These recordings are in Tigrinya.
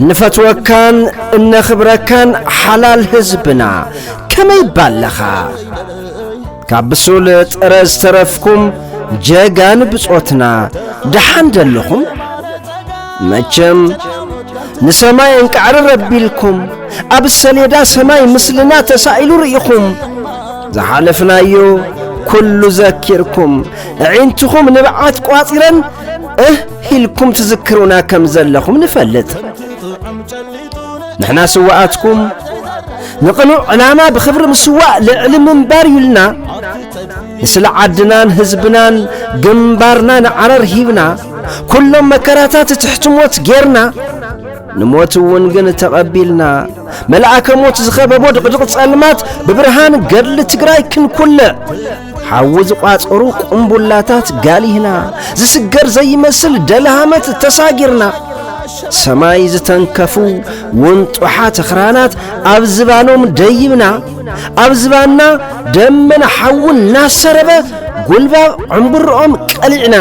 እንፈትወካን እነኽብረካን ሓላል ህዝብና ከመይ ባለኻ ካብ ብሱል ጥረ ዝተረፍኩም ጀጋን ብጾትና ደሓን ደለኹም መቸም ንሰማይ እንቃዕሪ ረቢልኩም ኣብ ሰሌዳ ሰማይ ምስልና ተሳኢሉ ርኢኹም ዝሓለፍናዮ ኩሉ ዘኪርኩም ዕዒንትኹም ንብዓት ቋጺረን እህ ኢልኩም ትዝክሩና ከም ዘለኹም ንፈልጥ። ንሕና ስዋኣትኩም ንቕኑዕ ዕላማ ብኽብሪ ምስዋእ ልዕሊ ምንባር እዩ ኢልና ንስለ ዓድናን ህዝብናን ግንባርና ንዓረር ሂብና ኩሎም መከራታት ትሕቲ ሞት ጌርና ንሞት እውን ግን ተቐቢልና መልኣከ ሞት ዝኸበቦ ድቕድቕ ጸልማት ብብርሃን ገድሊ ትግራይ ክንኩልዕ ሓዊ ዝቋጸሩ ቁምቡላታት ጋሊህና ዝስገር ዘይመስል ደልሃመት ተሳጊርና ሰማይ ዝተንከፉ ውንጡሓት ኽራናት ኣብ ዝባኖም ደይብና ኣብ ዝባና ደመና ሓውን እናሰረበ ጉልባብ ዕምብርኦም ቀሊዕና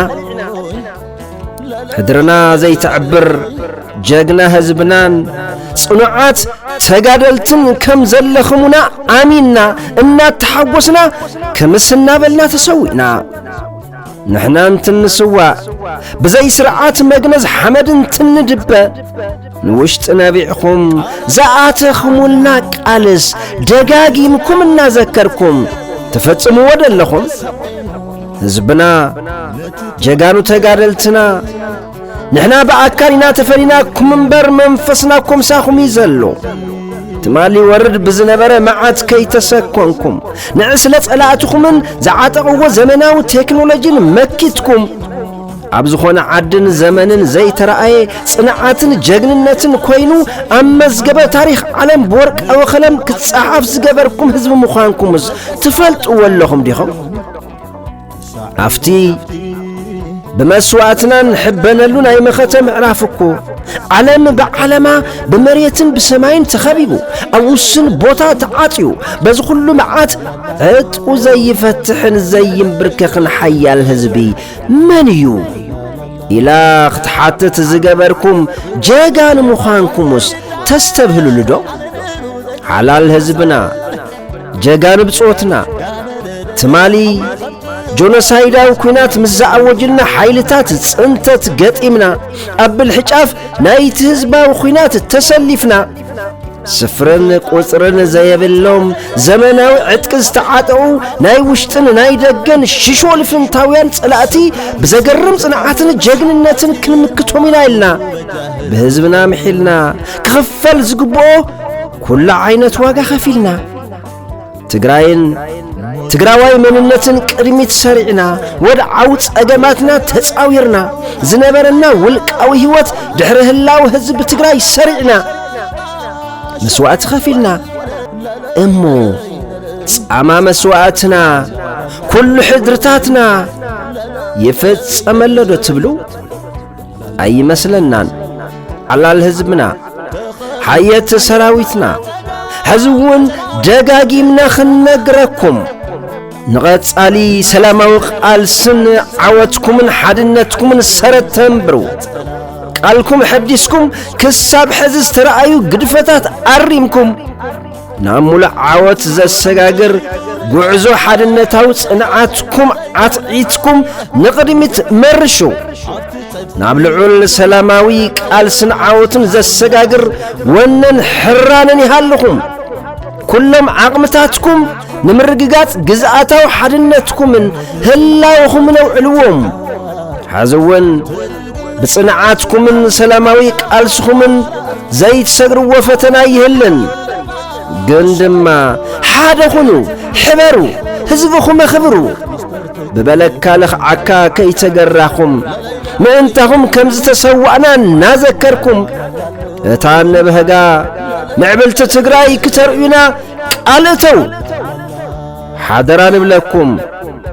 ሕድርና ዘይትዕብር ጀግና ህዝብናን ጽኑዓት ተጋደልትን ከም ዘለኽሙና ኣሚንና እናተሓጐስና ክምስ እናበልና ተሰዊእና ንሕና እንትንስዋእ ብዘይ ስርዓት መግነዝ ሓመድ እንትንድበ ንውሽጢ ነቢዕኹም ዝኣተኽሙልና ቃልስ ደጋጊምኩም እናዘከርኩም ትፈጽምዎ ደለኹም ህዝብና ጀጋኑ ተጋደልትና ንሕና ብኣካል ኢና ተፈሊናኩም እምበር መንፈስና ኮምሳኹም እዩ ዘሎ ትማሊ ወርድ ብዝነበረ መዓት ከይተሰኮንኩም ንዕስለ ጸላእትኹምን ዝዓጠቕዎ ዘመናዊ ቴክኖሎጂን መኪትኩም ኣብ ዝኾነ ዓድን ዘመንን ዘይተረኣየ ጽንዓትን ጀግንነትን ኮይኑ ኣብ መዝገበ ታሪኽ ዓለም ብወርቃዊ ኸለም ክጸሓፍ ዝገበርኩም ህዝቢ ምዃንኩምስ ትፈልጥዎ ኣለኹም ዲኹም? ኣብቲ ብመስዋእትና ንሕበነሉ ናይ መኸተ ምዕራፍ እኮ ዓለም ብዓለማ ብመሬትን ብሰማይን ተኸቢቡ ኣብ ውስን ቦታ ተዓጽዩ በዚ ዅሉ መዓት ዕጥቁ ዘይፈትሕን ዘይምብርከኽን ሓያል ህዝቢ መን እዩ ኢላ ክትሓትት ዝገበርኩም ጀጋኑ ምዃንኩምስ ተስተብህልሉዶ? ሓላል ህዝብና ጀጋኑ ብጾትና ትማሊ ጆኖሳይዳዊ ኲናት ምስ ዝኣወጅልና ሓይልታት ጽንተት ገጢምና ኣብ ብልሕጫፍ ናይቲ ህዝባዊ ኲናት ተሰሊፍና ስፍርን ቁጽርን ዘየብሎም ዘመናዊ ዕጥቂ ዝተዓጠቑ ናይ ውሽጥን ናይ ደገን ሽሾ ልፍንታውያን ጸላእቲ ብዘገርም ጽንዓትን ጀግንነትን ክንምክቶም ኢና ኢልና ብህዝብና ምሒልና ክኽፈል ዝግብኦ ኵሉ ዓይነት ዋጋ ኸፊልና ትግራይን ትግራዋይ መንነትን ቅድሚት ሰሪዕና ወድዓዊ ጸገማትና ተጻዊርና ዝነበረና ውልቃዊ ህይወት ድሕሪ ህላው ህዝቢ ትግራይ ሰሪዕና መስዋእቲ ኸፊልና እሞ ጻማ መስዋእትና ኩሉ ሕድርታትና ይፈጸመሎዶ ትብሉ ኣይመስለናን ሓላል ህዝብና ሓየት ሰራዊትና ሕዚ እውን ደጋጊምና ክንነግረኩም ንቐጻሊ ሰላማዊ ቃልስን ዓወትኩምን ሓድነትኩምን ሰረት ተንብሩ ቃልኩም ሐዲስኩም ክሳብ ሕዚ ዝተረኣዩ ግድፈታት ኣሪምኩም ናብ ሙሉእ ዓወት ዘሰጋግር ጉዕዞ ሓድነታዊ ጽንዓትኩም ዓትዒትኩም ንቕድሚት መርሹ ናብ ልዑል ሰላማዊ ቃልስን ዓወትን ዘሰጋግር ወነን ሕራንን ይሃልኹም ኩሎም ዓቕምታትኩም ንምርግጋጽ ግዝኣታዊ ሓድነትኩምን ህላውኹምን ኣውዕልዎም ሐዚ እውን ብጽንዓትኩምን ሰላማዊ ቃልስኹምን ዘይትሰግርዎ ፈተና ኣይህልን። ግን ድማ ሓደ ኹኑ፣ ሕበሩ፣ ህዝብኹም ኣኽብሩ። ብበለካ ለኽዓካ ከይተገራኹም ምእንታኹም ከም ዝተሰዋእና እናዘከርኩም እታ ነበህጋ ምዕብልቲ ትግራይ ክተርእዩና ቃል እተው ሓደራ ንብለኩም።